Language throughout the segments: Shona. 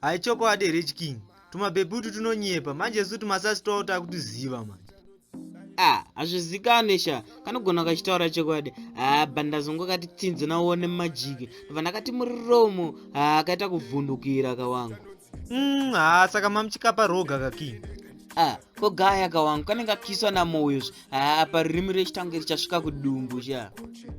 Hai chokwadi here chiking. Tumabebi utu tunonyepa manje su tumasasi twavo takutuziva manje. Ah, hazvizikane sha kanogona kachitaura chokwadi haa ah, bandazongo kati tsinzi nauone mumajiki ndobva ndakati muriromo haa ah, kaita kuvhundukira kawangu mm, haa ah, saka mamuchikapa roga kaking ah ko gaya ka wangu kanenge kakiswa namoyo zve haa apa ririmi rechitange richasvika kudumbu sha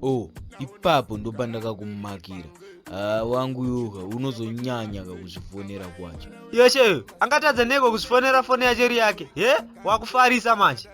o oh, ipapo ndopa ndakakumakira haa wangu yoka unozonyanya kakuzvifonera kwacho yeshe angatadza neko kuzvifonera foni yacho ri yake he wakufarisa manje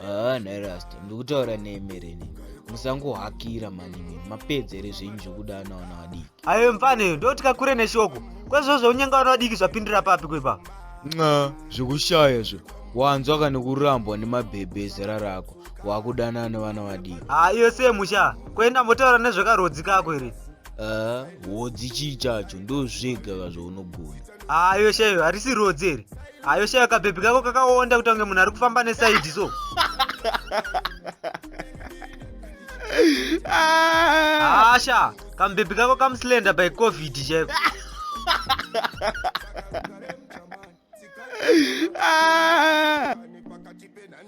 haa nhairasta ndikutaura neemereni musangohakira manimi mapedzere zvenyu zvekuda anawana vadii ayo mfaneyo ndotya kure neshoko kwezvo zveunyenga wana vadiki zvapindira papi kwepa nxa zvekushaya zve wanzwa kani kurambwa nemabhebhe ezera rako wakudanana nevana vadiki haa iyo sei musha kuenda motaura nezvekarodzi kako here Ah, hodzi chii chacho ndozvega ka zvaunogona haa iyo shayo harisi rodzi here haa iyo shayo kabhebhi kako kakaonda kuti ange munhu ari kufamba nesaidi so haa sha Kambebi kako kamuslender by covid chaiko. Ah,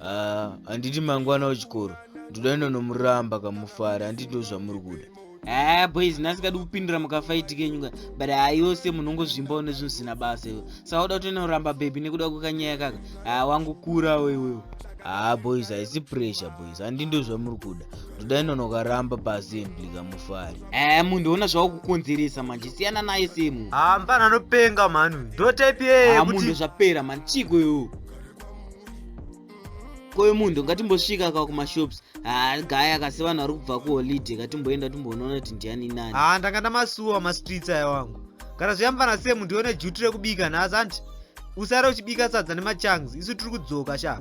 ah anditi mangwana wechikoro ndoda inonomuramba kamufara anditi ndozvamuri kuda haa ah, boys nasikadi kupindura mukafaiti kenyu ka but haa iwo se munhu ongozvimbawo nezvinhu zvisina basa iwo saka uda kutoenda kuramba bhebhi nekuda kwekanyaya kaka haa ah, wangokurawo iwewo haa ah, boys haisi pressure boys handi ndozvamuri kuda dai nonokaramba pasi mblika mufari eh munhu ona zvakukonzeresa manje siyana naye semu ah mpana anopenga mhani ndo type yeye ah munhu zvapera mhani chiko yo koyo munhu ngatimbosvika ka kumashops ah gaya kasi vanhu vari kubva kuholiday ngatimboenda timbonoona kuti ndiani nani ah ndanga ndamasuwa mastreets aya wangu kana zviyambana semu ndione juti rekubika nhasi anti usare uchibika sadza nemachangs isu tiri kudzoka shaa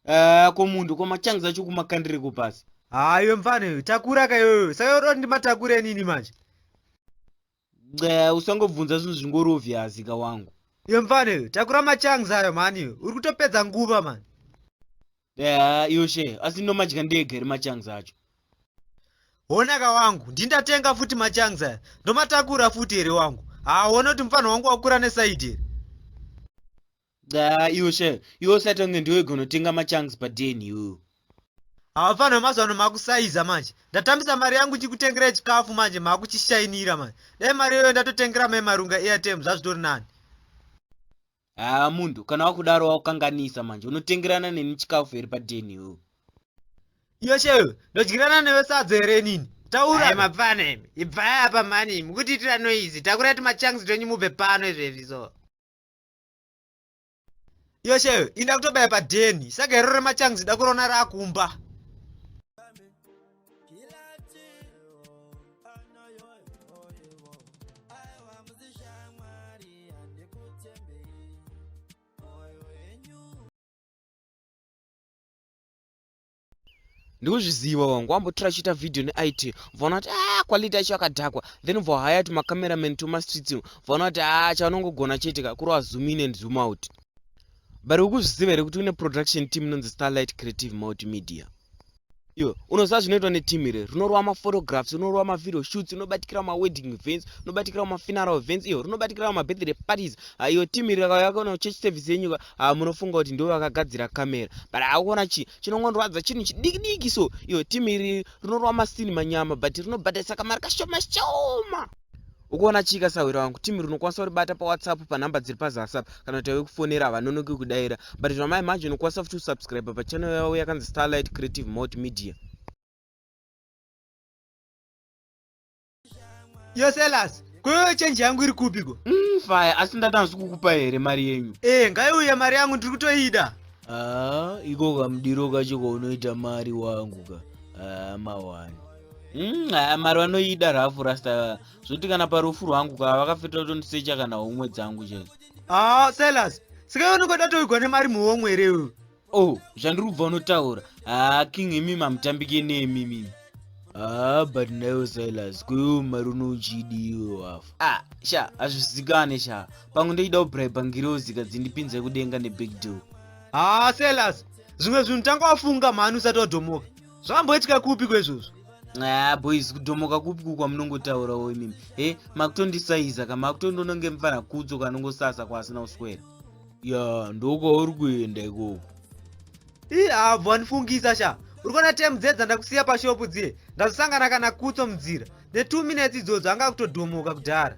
Eh, ko munhu ko machangizi acho kumakandireko pasi hayo mfana iyoyo takura ka iyoyo saka yoti ndimatakure nini manje usangobvunza zvinhu zvingorovhiazika wangu iyo mfana iyoyo takura machangizi ayo mani uri kutopedza nguva mani Haa iyo share asi ndomadya ndega here machangs acho. Honaka wangu ndindatenga futi machangs aya ndomatakura futi here wangu. Haa wona kuti mufana wangu wakura neside here. Haa iyo share iwe usati wange ndiwe gonotenga machangs paden iwewe. Haa mufana wemazuvano makusaiza manje ndatambisa mari yangu ndichikutengerai chikafu manje makuchishainira manje. Dai mari iyoyo ndatotengera mai marunga airtime zvazvitori nani. Haa munhu kana wakudaro wakukanganisa manje unotengerana neni chikafu here padeni ho Yoshewe ndodyirana newe sadza here nini taura mapfana imi ibvai apa mani mukutiitira noizi takurai tumachangs twenyu mubve pano izvezvi so Yoshewe inda kutobaya padeni saka hero remachangs dakurona rakumba Kilati anoyoyoyevo aiwa muzishamwari handikutembei moyo yenyu ndikuzviziva wangu wambotora achiita video neit vaona kuti a ah, quality yacho yakadhakwa then vohaya ti macameraman tomastreets vaona kuti a ah, chavanongogona chete ka kurova zoom in and zoom out but ukuzviziva here kuti une production team inonzi starlight creative multimedia iwe unoziva zvinoitwa neteam iri rinorova maphotographs rinorova mavideo shoots rinobatikira mawedding events rinobatikira mafuneral events iyo rinobatikira mabirthday parties ah, iyo team iri yakayakaona church service yenyuka ah, munofunga kuti ndivo vakagadzira camera but akuona chii chinongondwadza chinhu chidiki diki so iyo team iri rinorova masini manyama but rinobatarisa kamari kashoma shoma Ukuona chika sahwira wangu team rinokwanisa kuribata pawhatsapp panhamba dziri pazasi apa kana kuti tave kufonera havanonoki kudaira but zvamai manje unokwanisa futi kusubscribe pachannel yavo yakanzi starlight creative mot media yoselas kwewe chenji yangu iri kupiko mm, faya asi ndati hanzi kukupa here mari yenyu ee eh, ngaiuye mari yangu ndiri kutoida aa ah, iko kamudiro kacho kaunoita mari wangu ka aa ah, mawani Mm, mari vanoida rafu rasta zvoti kana parufu rwangu ka vakafeta kutondisecha kana homwe dzangu chete ah silas sika unokoda toigwa nemari muhomwe here uyu o oh, zvandiri kubva unotaura haa ah, king imi mamutambike nemi mimi haa ah, but nayo silas kuyo mari unochidiwo hafu a ah, sha hazvizikane sha pamwe ndoida kubraiba ngirozi kadzindipinze kudenga nebig deal haa silas zvimwe zvinhu tanga wafunga mhani usati wadhomoka zvamboitika kupi kwezvozvo aa boys kudhomoka kupi kukwa munongotaurawo imimi he makutondisaiza ka makutondononge mfana kudzo kanongosasa kwaasina kuswera ya ndokwauri kuenda ikoko ii abvo andifungisa sha uri kuona tem dze dzandakusiya pashopu dziye ndazosangana kana kutso munzira netwo minutes idzodzo anga akutodhomoka kudhara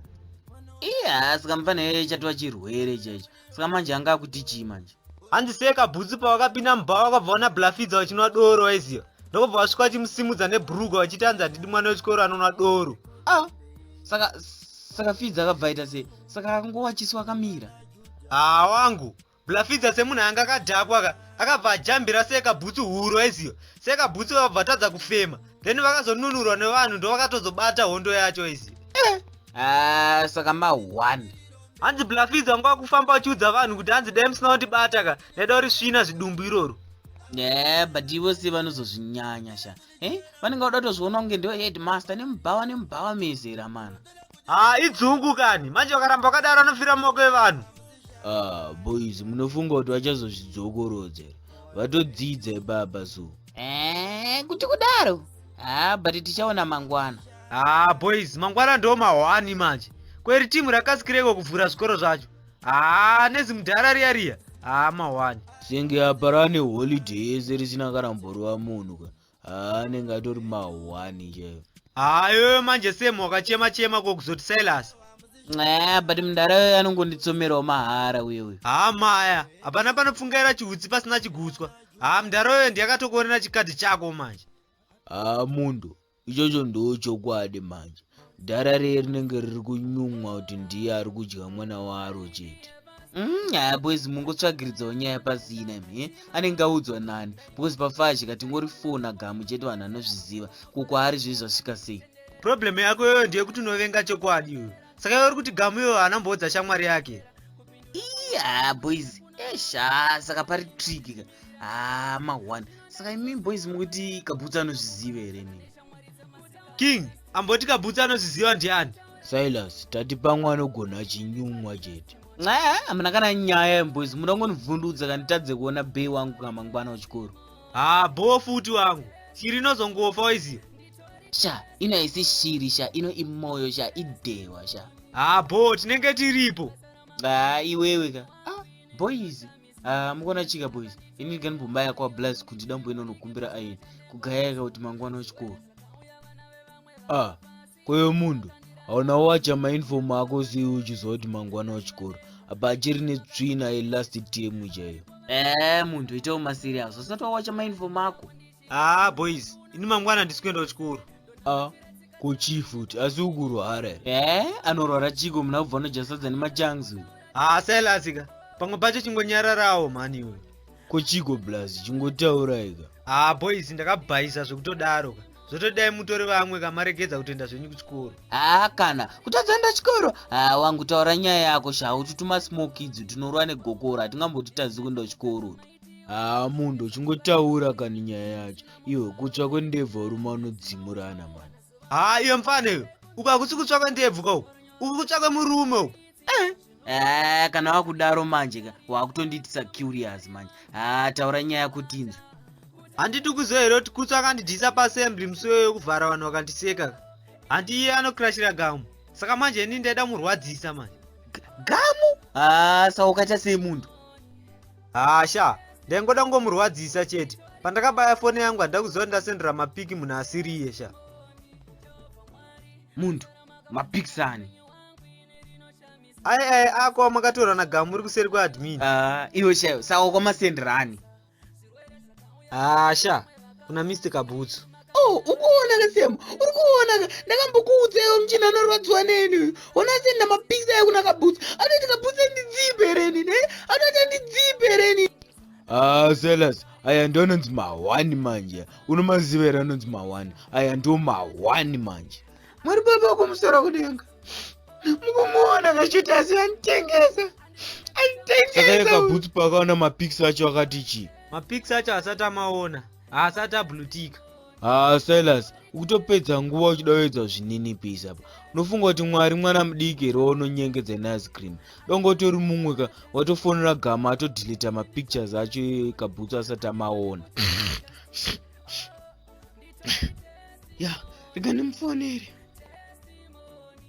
iya saka mfana iye chatova chirwere chaicho saka manje anga akuti chii manje hanzi seka bhutsu pavakapinda mubhawa vakabva wana blafidza vachinwa doro vaiziva ndokubva vasvika vachimusimudza nebhuruga vachiti hanzi handidi mwana wechikoro anonwa doro ah saka saka fidza akabva aita sei saka akangowa chiso akamira haa wangu blafidza semunhu anga akadhakwa ka akabva ajambira seka bhutsu huru vaiziva seka bhutsu vakabva vatadza kufema then vakazonunurwa nevanhu ndovakatozobata hondo yacho vaiziva eh. ah, saka ma one hanzi blacklids anga wakufamba uchiudza vanhu kuti hanzi dai musina kundibata ka ndaida uri svina zvidumbu iroro yeah but ivo se vanozozvinyanya sha eh vanenge vada kutozviona kunge ndo headmaster nemubhawa nemubhawa mezera mana haa ah, idzungu kani manje vakaramba wakadaro anofira mumoko evanhu ah boys munofunga kuti vachazozvidzokorodza vatodzidza ibaba so eh kuti kudaro haa ah, but tichaona mangwana haa ah, boys mangwana ndo mahwani manje kweri timu rakasikireko kuvhura zvikoro zvacho haa ah, nezimudhara riya riya haa ah, mahwani senge apa rane holiday ese risina kana mborova munhu ka haa anenge atori mahwani chaivo haa iyoyo manje sem wakachema chema kokuzoti silas aa but mudhara yoyo anongonditsomerawo mahara uye uyo haa maya hapana panopfungaira chihutsi pasina chigutswa haa mudhara yoyo ndiyakatokuonera chikadhi chako manje haa mundo ichocho ndochokwadi manje dhara reye rinenge riri kunyumwa kuti ndiye ari kudya mwana waro chete mm, haa mm, boys mungotsvagiridzawo nyaya pasina imi eh? anenge audzwa nani because pafashi katingori fona gamu chete vanhu anozviziva ko kwaari zve zvasvika sei problem yako iyoyo ndeyekuti unovenga chokwadi iyoyo saka iwe uri kuti gamu iyoyo anamboudza shamwari yake iya boys esha saka pari trick ka ah ma one saka imi boys mukuti kabutsa anozviziva here nini king amboti kabutsa anozviziva ndiani silas tati pamwe anogona chinyumwa chete nxaa hamuna kana nyaya boys muda kungonivhundudza kanditadze kuona bay wangu kamangwana wechikoro haa boo futi wangu chiri inozongofa waiziva sha ino haisi shiri sha ino imoyo sha idehwa sha haa bho tinenge tiripo haa iwewe ka ah, boys haa mukona chika boys ini ndiganibombaya kwa blaz kuti dambo inonokumbira ayen kugayaka kuti mangwana wechikoro ah kwewe munhu hauna wacha mainfom ako sei uchiziva kuti mangwana wechikoro apa achiri netsvina yelast tm chaiyo ee munhu itawo masirias usati wawacha mainfom ako haa ah, boys ini mangwana handisi kuenda kuchikoro a ah, kochii futi asi ukurwara e eh, anorwara chiko muna kubva unojasadza nemachangs uyu haa ah, sailasika pamwe pacho chingonyararawo mhani iwe kochiko blas chingotauraika haa boys ndakabhaisa zvekutodaro ka zvotodai mutori vamwe kamaregedza kutoenda zvenyu kuchikoro haa kana kutadza enda chikoro haa wangu taura nyaya yako shaa ututuma smoke idzi tinorwa negokoro hatingambotitadzi kuenda kuchikoro haa munhu uchingotaura kani nyaya yacho iwe kutsva kwendebvu varume vanodzimurana mani haa iyo mfana iyo uka kusi kutsva kwendebvu kau uku kutsva kwemurume uku eh. Eh, kana wakudaro manje ka wakutondiitisa curious manje haa ah, taura nyaya kutinzwa handidi kuziva here kuti kutsa akandidisa paassembly musi weyo yokuvhara vanhu vakandiseka handi iye anokrashira gamu saka manje ini ndaida murwadzisa manje gamu haa ah, saka ukaita sei munhu hasha ndaingoda kungomurwadzisa chete pandakabaya foni yangu handida kuziva ndasendera mapiki munhu asiriye sha munhu mapikisani ai ai ako amakatora na gamu uri kuseri kweadmin ah, iwe shayo saka kwamasenderani hasha kuna mr kabutsu Oh, ukuonaka Sam, uri kuonaka. Ndakambokuudzaiwo muchina anorwadziwa neni uyu. Ona seni namapikisa ekunaka bhutsu. Anoti kabhutsu andidzipe reni, ne? Anoti andidzipe reni. Ah, Silas, aya ndononzi mahwani manje. Unomaziva here anonzi mahwani? Aya ndiwo mahwani manje. Mwari baba kumusoro kudenga. Mukumuona kachiti asi anitengesa. Anitengesa. Saka yekabhutsu pakaona mapikisa acho akati chii? Mapikisa acho asati amaona. haasati ablutika haa silas ukutopedza nguva uchidovedza zvininipisi apa unofunga kuti mwari mwana mudiki here waunonyengedza neice cream donga utori mumwe ka watofonera gama atodhilita mapictures acho ekabhutsu asati amaona ya rega ndimufonere